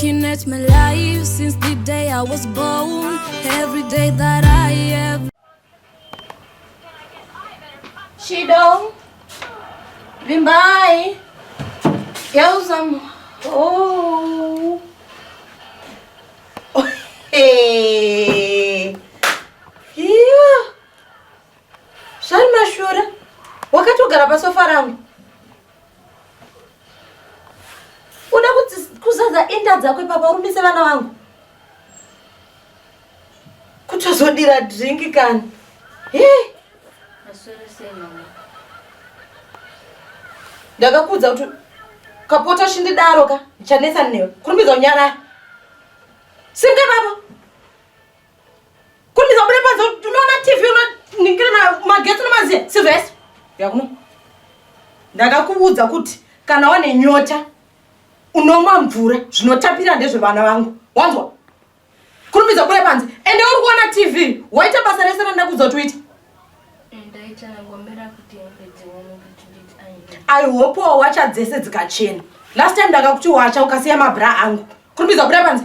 Looking at my life since the day I was born Every day that I have Shido Vimbai Yauzam Oh Hey Zvani mashura? Wakatogara pasofa rangu. Uda kuzadza inda dzako ipapa urumbise vana vangu. Kutozodira drink kani. Hii. Mashura sei mama? Ndakakudza kuti kapota chindidaro ka chanetsa newe. Kurumbidza unyara. Singa baba. Kundidza kubuda panze unoona TV unoningira na magetsi unomaziya sizvo yes. Yakuno. Ndakakuudza kuti kana wane nyota unomwa mvura zvinotapira ndezvevana vangu. Wanzwa? Kurumbidza kubuda panze ende uri kuona TV waita basa rese randakuudza kuti uite. Ndaita ngomera kuti ndidzi wani kuti ndidzi ayi. I hope wacha dzese dzikachena. Last time ndakakuti wacha ukasiya mabra angu. Kurumbidza kubuda panze.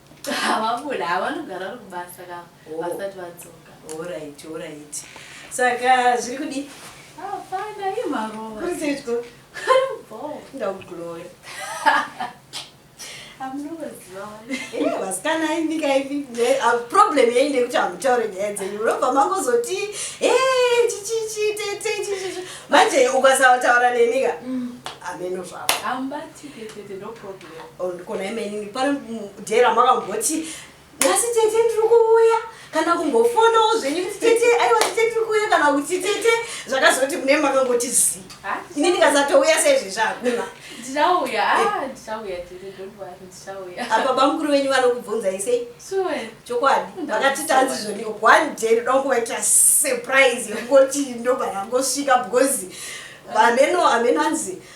havabuda havanogara vari kubasa ka vasati vadzoka orit orit saka zviri kudi hapana i marova kuriseitiko ndakuglora vasikana imbika ipi problem yei ndekuti hamutaure nyaya dzenyu munobva mangozoti chichichi tete chichichi manje ukasaotaura nenika hameno zvavo Oh, ndikona imeni pano mudhera makamboti nhasi tete ndiri kuuya kana kumbofonawo zvenyu kuti tete aiwa tete ndiri kuuya kana kuti tete zvakazoti mune makangoti zi ah, ini ndikasatouya seizvezvi hakuna ndichauya ah, eh. ndichauya tete donwari ndichauya ah, baba mukuru venyu vanokubvunzai sei sure chokwadi vakati tanzi zvoni one day ndoda kungovaita surprise yekungoti ndobva yangosvika because hameno hameno anzi ah,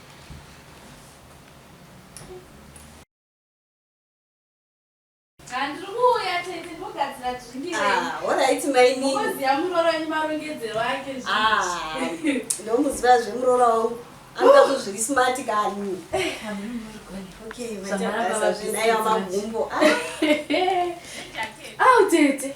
ndomuziva zvemuroora wangu anoda kuzviri smart kani zvinayo magumbo au tete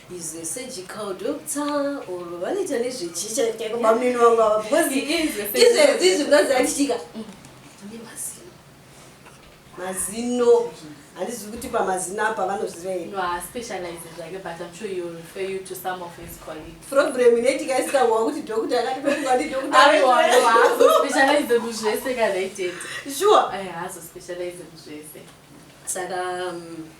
is a surgical doctor or vanoita nezvechicha chaiko bamnini vangu ava because izvezvi zvinganzi andichitika ane mazino mazino handizi kuti pamazino apa vanozivaproblem inoitika isikawa kuti dokta akatiaadoktaazvese kana itete sure eh, saka um,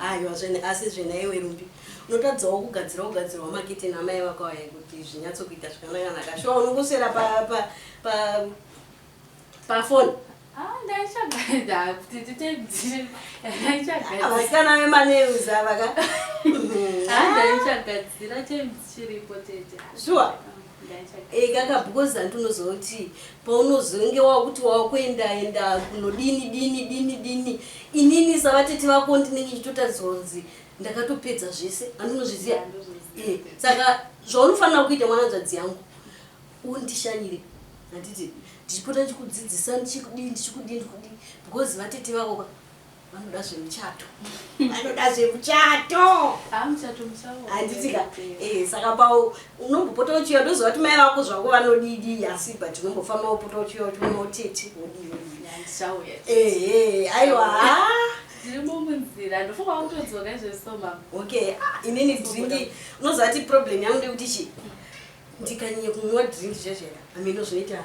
Aiwa zvene asi zvene iwe Ruby unotadzawo kugadzira ugadzirwa makitini amai vako aya kuti zvinyatsokuita zvakanaka-naka shuwa unongoswera pa pa pa pafoni Ah, ndaichagara kuti titedzire. Ndaichagara. vasikana vemanews ava ka Ah, ndaichagadzira times chiripo tete. shuwa ekaka because hanti unozoti paunozonge wakuti wakuendaenda kunodini dini dini dini inini savatete vako ndinenge ndichitotadzwa kunzi ndakatopedza zvese hanti unozviziva eh, saka zvaunofanira kuita mwananzvadzi yangu undishanyire handiti ndichipota ndichikudzidzisa ndichikudii ndichikudii ndikudii because vatete vako ka vanoda zvemuchato vanoda zvemuchato handitika eh, saka pao unombopota uchiuya ndoziva kuti mai vako zvako vanodidi asi but unombofamba upota uchiuya kuti unotete wodii ehe aiwa okay ah, inini dringi unoziva kuti problem yangu ndekuti chi ndikanyanya kunwa dringi zvazvera ameno zvinoita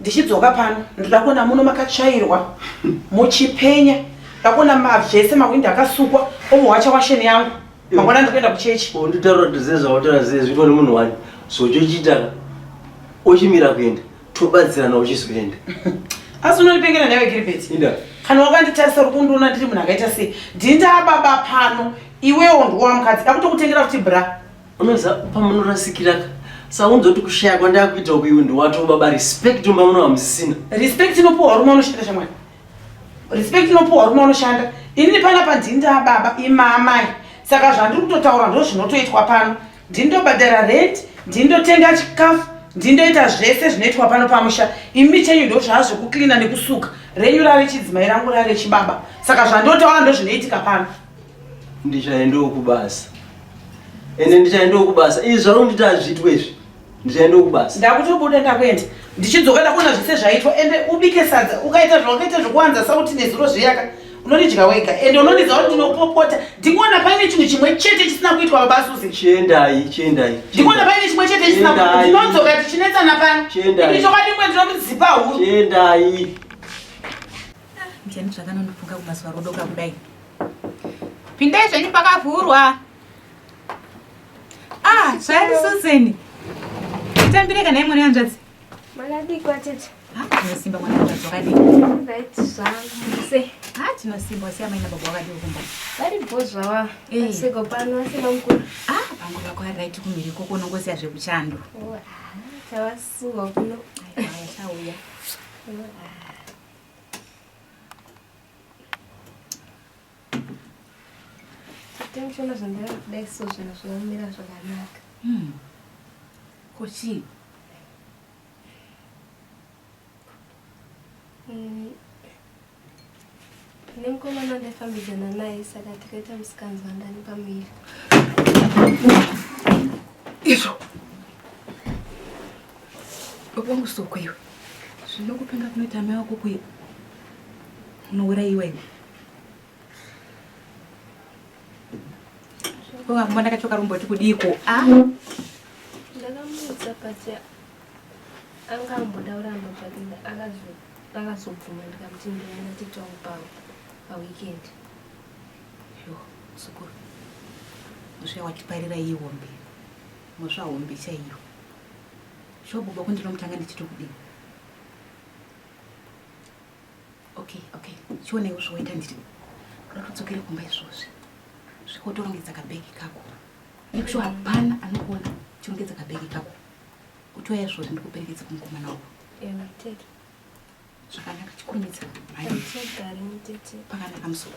ndichidzoka pano ndoda kuona muno makatsvairwa muchipenya ndakuona mavese mawindi akasukwa omuwacha washeni yangu mangwana ndikuenda kuchechi nditaura dzezvautaura zezvitwa nemunhu wani zvochochiita ochimira kuenda tobatsirana uchizoenda asi unondipengera newe gilbert kana wakanditarisa uri kundiona ndiri munhu akaita sei ndindababa pano iwewo ndiwa mukadzi dakutokutengera kuti bra Unoza pamunorasikira ka saunza kuti kushaya kwandakuita uku iwe ndiwato baba respect umba muno hamusisina. Respect inopuwa rume unoshanda shamwari. Respect inopuwa rume unoshanda. Ini pana pa ndini nda baba imamai. Saka zvandiri kutotaura ndo zvinotoitwa pano. Ndini ndobhadhara rent, ndini ndotenga chikafu, ndini ndoita zvese zvinoitwa pano pamusha. Imi chenyu ndo zvazvo kucleaner nekusuka. Renyu rave chidzimai rangu rave chibaba. Saka zvandotaura ndo zvinoitika pano. ndichaendawo kubasa ende ndichaendawo kubasa izvi zvaunditi hazviitwe izvi ndichaendawo kubasa ndakutobuda ndakuenda ndichidzoka ndakuona zvese zvaitwa ende ubike sadza ukaita zvawakaita zvekuwanza sauti nezuro zviyaka unondidya wega ende unondidza kuti ndinopopota ndikuona paine chinhu chimwe chete chisina kuitwa baba susi chiendai chiendai ndikuona paine chimwe chete chisina ndinodzoka tichinetsana pano ini chokwadi kwe ndinokudzipa huru chiendai Ndiani zvakanondifunga kumazuva rodoka kudai. Pindai zvenyu pakavhurwa. Ah, zvani Susan. Itambire kana imwe nehanzvadzi. Manadiko atete. Ah, tinosimba mwana hanzvadzi wakadii. Right zvangu se. Ah, tinosimba wasiya maina baba wakadii kumba. Vari bho zvava. Eh. Seko pano wasiya mamukuru. Ah, pangu vako ari right kumhiri koko unongosiya zvekuchando. Oh, ah, tawasuwa kuno. Ai, ai, chauya. Oh, ah. Tension zvandira kudai so zvinhu zvinomira zvakanaka. Hmm. Kochii? Mm. Tine mukomana wandafambidzana naye saka tikaita musikanzwa ndani pamuviri. Izvo. Baba wangu soko iwe. Zvinokupenga kunoita mai wako kuye. Unourayiwa iwe. Ko ambo ndakachoka rumboti kudiiko? Ah. Ndakamuudza pacha anga amboda uramba pakinda akazoka. Vakazobvuma ndikamuti ndinoenda titown pavo paweekend. Yo, muzukuru. Muzvaya watiparira iyi hombe. Muzva hombe chaiyo. Shuwa baba ko ndinomutanga ndichito kudini? Okay, okay. Chioneiwo zvoita ndiri. Kuda kudzokere kumba izvozvi. Zvikotorongedza kabhegi kako. Ikusho hapana anokuona chirongedza kabhegi kako. Utoya izvozvi ndikuperekedza kumukomana wako. zvakanaka chikurumidza pakanaka musoro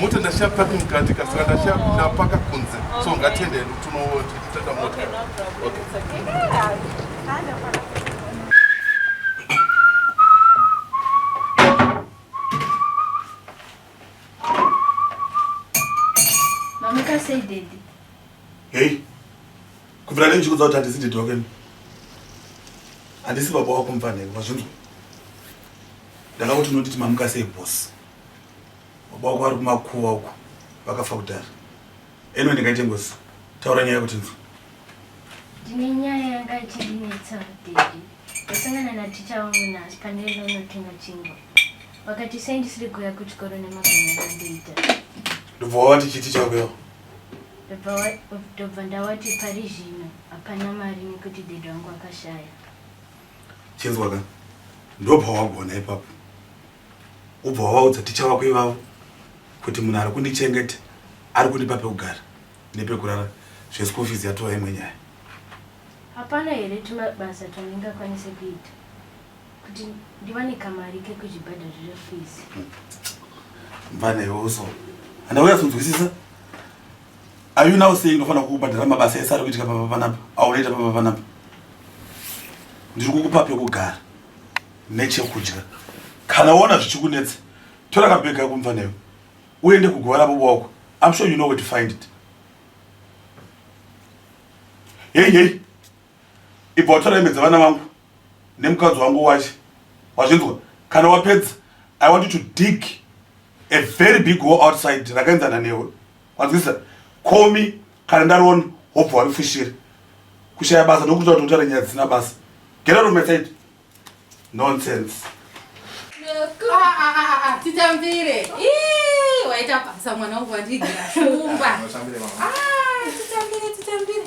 mota ndashaya paki mukati ka saka ndashaya oh. ndapaka kunze so ngatiende hedu tinotoita mota hei kubvira nei ndichikudza kuti handisi didi wakeni handisi baba wako mfanheko mazvinzwa Ndakakuti unotiti mamuka sei boss. Baba wako ari kumakuva uko vakafa kudhara. Eno ndingaite ngozi. Taura nyaya kuti nzwe. Ndine nyaya yanga ichindinetsa daddy. Ndasangana na teacher wangu nhasi pandaiva unotenga chingwa. Vakati sei ndisiri kuuya kuchikoro nemagana akandiita. Ndobva wavati chiti chauyawo. Ndobva wa- ndobva ndawati pari zvino hapana mari nekuti daddy wangu akashaya. chinzwa ka ndobva wagona ipapo ubva wavaudza ticha vako ivavo kuti munhu ari kundichengeta ari kundipa pekugara nepekurara zveschool fees yatova imwe nyaya hapana here tumabasa twandingakwanise kuita kuti ndiwane kamari kekuzvibhadharira fees mvana iwe uso handauya kunzwisisa Are you now saying ndofanira kukubhadhara mabasa ese ari kuitika papa panapa aunoita papa panapa? Ndiri kukupa pekugara nechekudya. Kana waona zvichikunetsa, tora kabhegi kako mva newe uende kuguva rabobo wako. I'm sure you know where to find it. Hey hey. Ibva watora hembe dzevana vangu nemukadzi wangu wash wazvinzwa kana wapedza i want you to dig a very big hole outside rakaenzana newe wanzwisa call me kana ndariona hobva warifushira kushaya basa nokuti kuti utaura nyaya dzisina basa get out of my side nonsense titambire waita basa mwana wangu wandigira shumba titambire titambire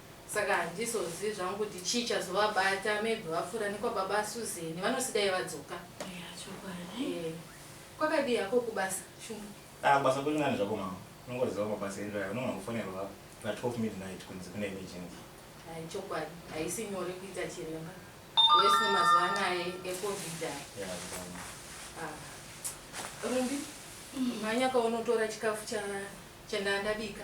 Saka handizozivi zvangu kuti chii chazovabata maybe vapfuura nekwababa Susan vanosi dai vadzoka. Eya chokwadi. Ehe kwakadii hako kubasa Shumba? Ah kubasa kuri nani zvako mama unongoziva mabasa edu aya unogona kufonerwa na 12 midnight kunzi kune emergency. Hai chokwadi haisi nyore kuita chiremba worse nemazuva anaya ecovid aya. Yeah zvakanaka. Ah Rumbi mhanya kaunotora chikafu cha chandanga ndabika.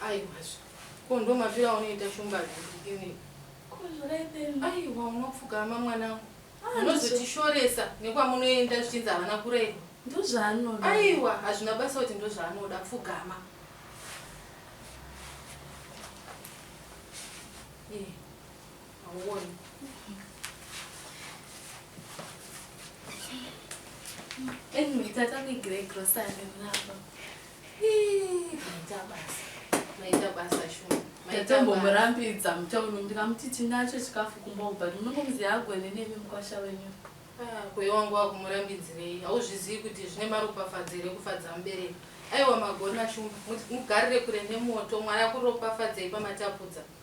Aiwazve. Ko ndomafira unoita shumba zvinei. Ko zvakaipei? Aiwa unopfugama mwanangu. Munozotishoresa nekwamunoenda zvichinzi havana kurerwa. Ndozvaanoda. Aiwa hazvina basa kuti ndozvaanoda pfugama. tatombomurambiridza mutauni ndikamuti tinacho chikafu kumba ubva ndinongomuziva agone nemi mukwasha wenyu ah, kweyo wangu wakumurambidzirei hauzvizivi kuti zvine maropafadzo here kufadza mubereki aiwa magona shumba mugarire kure nemoto mwari akuropafadzei pamatapudza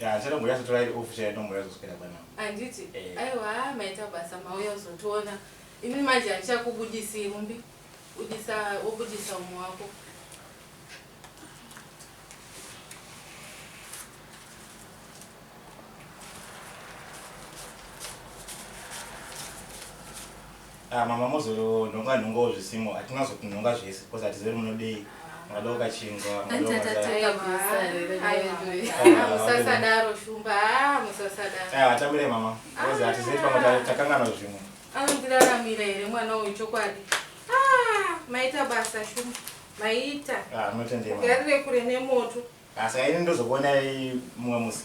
Yeah, chero ngoya zotora iri off chero ngoya zoswera bwana. Anditi. Eh. Aiwa maita basa mauya uzotiona. Ini manje andichakubudisi mumbi. Udisa wobudisa umwe wako. Ah mama mozonhonga nhongawo zvisimo hatina zokunhonga zvese because hatizive kuti munodei mungada ukachinzwa Hanzi atatanga basa here Hallelujah. Ah, musasadaro shumba ah, musasadaro Ah, hatamire mama because hatizive pamwe ta- takanganwa zvimwe anondiraramira here mwana uyu chokwadi Ah, maita basa shumba maita Ah, munotendema garire kure nemoto Ah, saka ini ndozokuonai mumwe musi